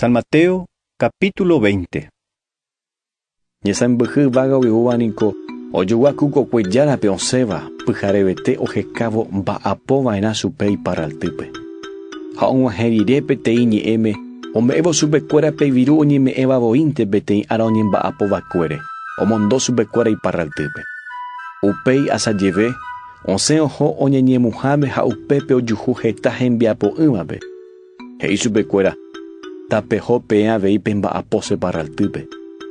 San Mateo capítulo 20 Ñesãmbyhy yvága oiúva niko ojoguaku kokue járape osẽva pyharevete ohekávo mba'apo va'erã chupe iparraltýpe. Ha og̃uahẽ rire peteĩ ñe'ẽme ome'ẽvo chupekuéra pe viru oñeme'ẽva voínte peteĩ ára oñemba'apo vakuére omondo chupekuéra iparraltýpe. Upéi asa jeve, osẽ oho oñeñemuháme ha upépe ojuhu heta hembiapo'ỹvape He'i chupe kuéra, Tapeho peẽ avei pe mba'apo che parraltýpe,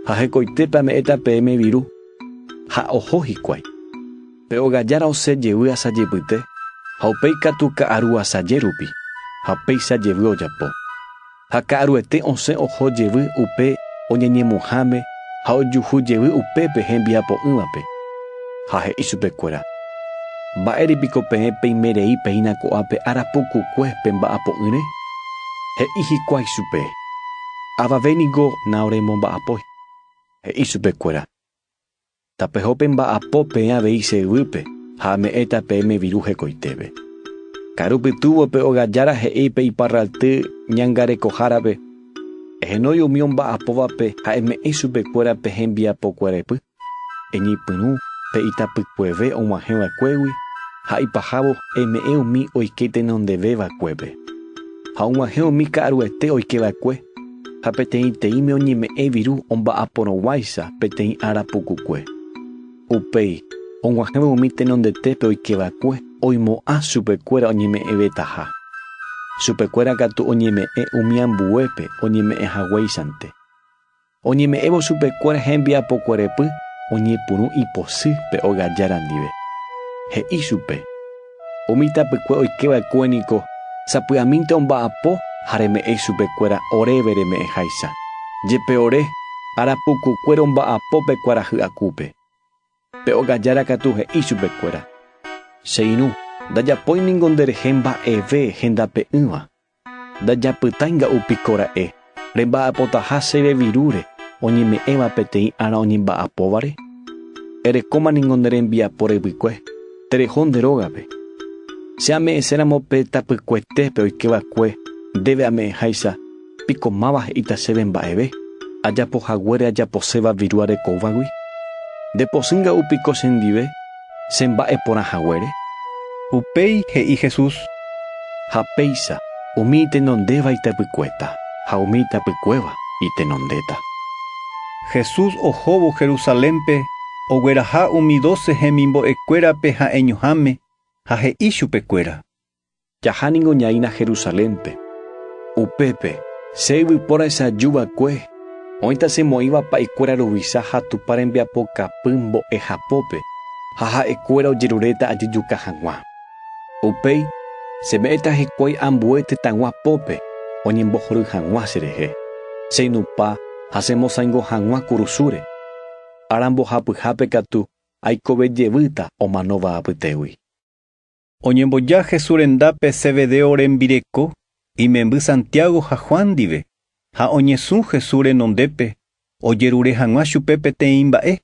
ha hekoitépe ame'ẽta peẽme viru. Ha oho hikuái. Pe ogajára osẽ jevy asa jepyte, ha upéi katu ka'aru asa jérupi, ha upéicha jevy ojapo. Ha ka'aruete osẽ oho jevy upe oñeñemuhãme, ha ojuhu jevy upépe hembiapo'ỹvape, ha he'i chupekuéra, Mba'ére piko peẽ peime rei péina ko'ápe ára pukukue pe mba'apo'ỹre? He'i hikuái chupe, Avave niko naoremomba'apói. He'i chupekuéra, Tapeho pe mba'apo peẽ avei che yvýpe ha ame'ẽta peẽme viru hekoitépe. Karu pytúvo pe ogajára he'i pe iparralty ñangarekohárape, Ehenói umi omba'apóvape ha eme'ẽi chupekuéra pe hembiapokuerepy, eñepyrũ pe itapykueve og̃uahẽ vakuégui, ha ipahávo eme'ẽ umi oike tenondeve vakuépe. Ha og̃uahẽ umi ka'aruete oike vakue, ha peteĩteĩme oñeme'ẽ viru omba'aporõguáicha peteĩ ára pukukue. Upéi, og̃uahẽvo umi tenondetépe oike va'ekue, oimo'ã chupekuéra oñeme'ẽvetaha. Chupekuéra katu oñeme'ẽ umi ambuépe oñeme'ẽ haguéichante. Oñeme'ẽvo chupekuéra hembiapokuérepy oñepyrũ ipochy pe ogajára ndive. He'i chupe. Umi tapykue oike va'ekue niko sapy'amínte omba'apo ha reme'ẽ ichupe kuéra oréve reme'ẽ háicha. Jepe ore, ára puku kuéra omba'apo pe kuarahy akúpe. Pe óga jára katu he'i chupe kuéra, Che irũ, ndajapói ningo nde rehe mba'eve hendape'ỹva. Ndajapytái nga'u piko ra'e, remba'apotaha chéve virúre oñeme'ẽva peteĩ ára oñemba'apóvare? Erekóma ningo nde rembiapo revykue, tereho nde rógape. Che ame'ẽséramo pe tapykuetépe oike va'ekue ndéve ame'ẽháicha, piko máva he'íta chéve mba'eve, ajapo haguére ajaposéva viru arekóvagui? Nde posỹ nga'u piko che ndive? Che mba'e porã haguére? Upéi he'i Jesús. Ha péicha, umi itenondéva itepykuéta, ha umi itapykuéva itenondéta. Jesús ohóvo Jerusalénpe ogueraha umi doce hemimbo'ekuérape ha'eñoháme, ha he'i chupekuéra. Jaha ningo ñaína Jerusalénpe. Upépe, che yvypóra echaju va'ekue, oĩ tasemo'ĩva pa'ekuéra ruvicha ha Tupã rembiapokapy mbo'ehapópe, ha ha'ekuéra ojeruréta ajejuka hag̃ua. Upéi, cheme'ẽta hikuái ambue tetãgua pópe oñembohory hag̃ua cherehe, cheinupã ha chemosãingo hag̃ua kurusúre. Ára mbohapyhápe katu aikove jevýta omanóva apytégui. Oñemboja Jesús rendápe Zebedeo rembireko imemby Santiago ha Juan ndive, ha oñesũ Jesús renondépe ojerure hag̃ua chupe peteĩ mba'e.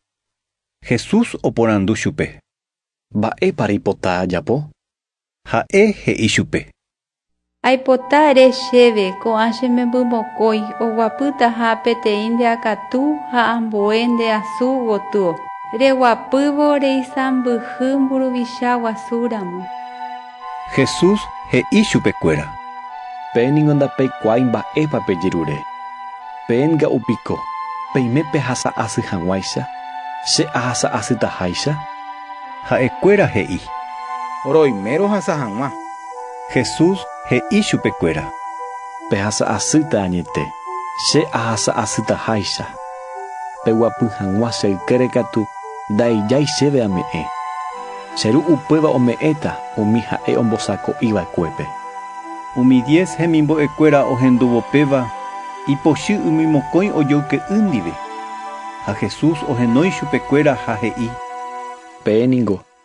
Jesús oporandu chupe. Mba'épa reipota ajapo? Ha'e he'i chupe. Aipota ere chéve, ko'ã che memby mokõi, oguapýtaha peteĩ nde akatu ha ambue nde asu gotyo. Reguapývo reisãmbyhy mburuvicha guasu ramo. Jesús he'i chupekuéra. Peẽ ningo ndapeikuaái mba'épa pejerure. Peẽ nga'u piko, peime pehasa asy hag̃uáicha, che ahasa asytaháicha? Ha'ekuéra he'i. Roime rohasa hag̃ua. Jesús he'i chupekuéra. Pehasa asýta añete, che ahasa asytaháicha. Peguapy hag̃ua che ykére katu ndaijái chéve ame'ẽ. Che Ru upéva ome'ẽta umi ha'e ombosako'i vakuépe. Umi diez hemimbo'ekuéra ohendúvo péva ipochy umi mokõi ojoyke'y ndive. Ha Jesús ohenói chupekuéra ha he'i. Peẽ ningo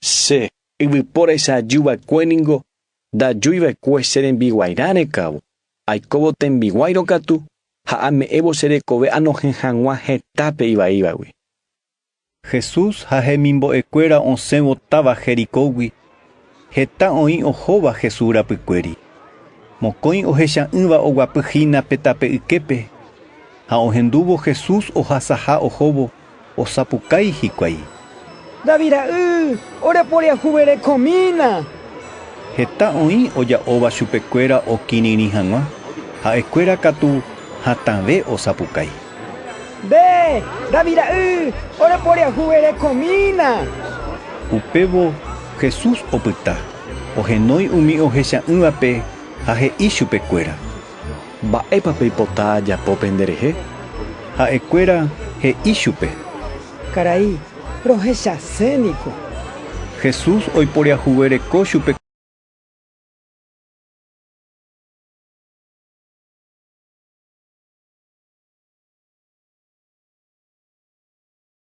Che yvypóra isa'aju va'ekue ningo ndajúi va'ekue che rembiguairã rekávo, aikóvo tembiguáirõ katu ha ame'ẽvo che rekove anohẽ hag̃ua hetápe ivaívagui. Jesús ha hemimbo'ekuéra osẽvo táva Jericógui, heta oĩ ohóva Jesús rapykuéri. Mokõi ohecha'ỹva oguapy hína pe tape yképe, ha ohendúvo Jesús ohasaha ohóvo. osapukái hikuái. David ra'y, ore poriahuverekomína! Heta oĩ oja'óva chupekuéra okirirĩ hag̃ua, ha'ekuéra katu hatãve osapukái. Nde, David ra'y, ore poriahuverekomína! Upévo Jesús opyta, ohenói umi ohecha'ỹvape ha he'i chupekuéra. Mba'épa peipota ajapo penderehe? Ha'ekuéra he'i chupe. Karai, rohechase niko. Jesús oiporiahuvereko chupe.